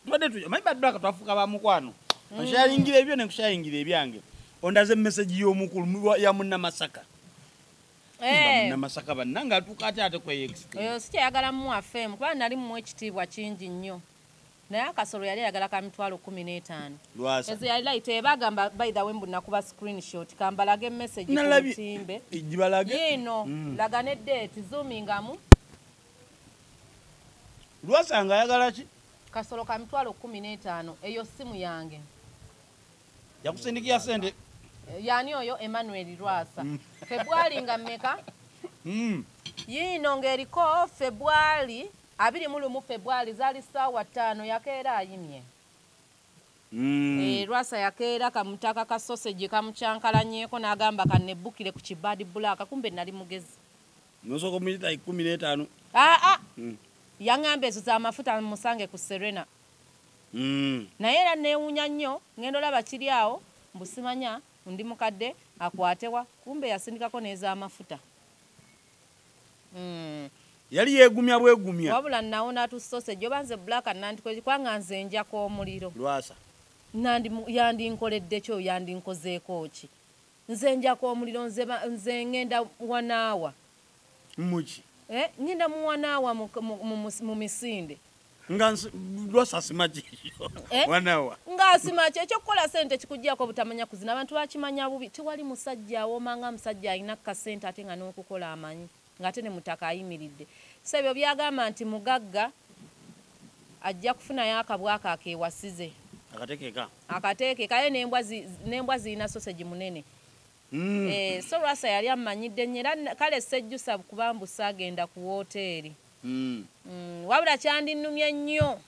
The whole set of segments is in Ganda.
tubadde tuja manyi baddu aka twafuuka ba mukwano mm. nshayingira ebyo ne nkushayingira ebyange ondaze message y'omukulu ya munnamasaka eh. munnamasaka banna ng'atuuka ate ate kweyext oyo si kyeyagala mu afm kuba nali mu ekitiibwa kingi nnyo naye akasolo yali ayagala ka mitwalo kumi n'etaano ezo yali layita eba agamba by the way mbu nakuba screenshot kambalage emessage kutimbe yiino mm. laga ne deeti zoomingamu lwasa nga ayagala ki kasolo ka mitwalo kumi n'etaano eyo simu yange yakusindikiya sente eh, yani oyo emmanuel lwasa mm. febwali nga mmeka mm. yiino ng'eriko febwali abiri mu lumu febwali zaali ssaawa ttaano yakeera ayimye mm. eh, lwasa yakeera kamutaka ka sosegi kamucankalanyeko n'agamba kanebbukire ku kibadi bulaaka kumbe nali mugezi Nosoko milita ikumi netano. Ah ah. Mm. Yangambe ezo za mafuta musange ku Serena. Mm. Naye era newunya nnyo ngendo laba kiri awo mbusimanya ndi mukadde akwatewa kumbe yasindikako neza mafuta. Mm. Yali yegumya bwegumya. Wabula naona tu sausage joba nze black and nanti kwe kwanga nze nja ko muliro. Lwasa. Nandi yandi nkoledde kyo yandi nkozeeko ki. Nze njako omuliro nze ba nze ngenda wanaawa. Muki? Eh ngenda mu wanaawa mu mu mu misinde. Nga lwasa simaji eh? wanaawa. Nga simaji ekyo kukola sente kikujjako butamanya kuzina abantu bakimanya bubi tewali musajja awoma nga musajja alina kasente ate nga n'okukola amanyi. ng'ate ne Mutaka ayimiridde. Sebyo by'agamba nti mugagga ajja kufunayo akabwa ako akeewasize. Akatekeka. Akatekeka ye n'embwa zi, n'embwa zirina sosegi munene. Mm. Eh, so Lwasa yali ammanyidde nnyo era n- kale sejjusa kuba mbu saagenda ku wooteeri. Mm. Mm, wabula kyandinnumye nnyo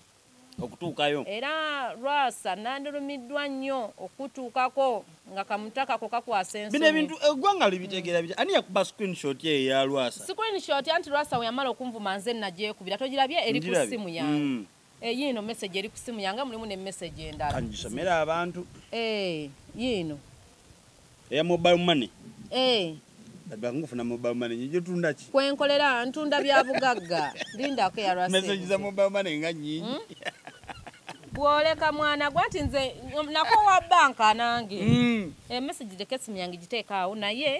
okutuukayo. Era Lwasa nandulumiddwa nnyo okukutuukako nga kamuta kako kakwasa ensonyi. Bino ebintu eggwanga libitegeera bitya? Ani yakuba screenshot eyo eya Lwasa? Screenshot anti Lwasa we yamala okunvuma nze nnagyekubira. Togirabye eri ku ssimu yange? Mm. Eh, yiino message eri ku ssimu yange mulimu ne message endala. Kangisomera abantu. Eh, yiino. eya mobile money eh bakufuna mobile money nyijo tunda ki kwenkolera ntunda bya bugagga linda ko ya rasa message za mobile money nga nyingi hmm? bwoleka mwana gwati nze nako wa banka nange mm. e message de kesi myangi jiteka au na ye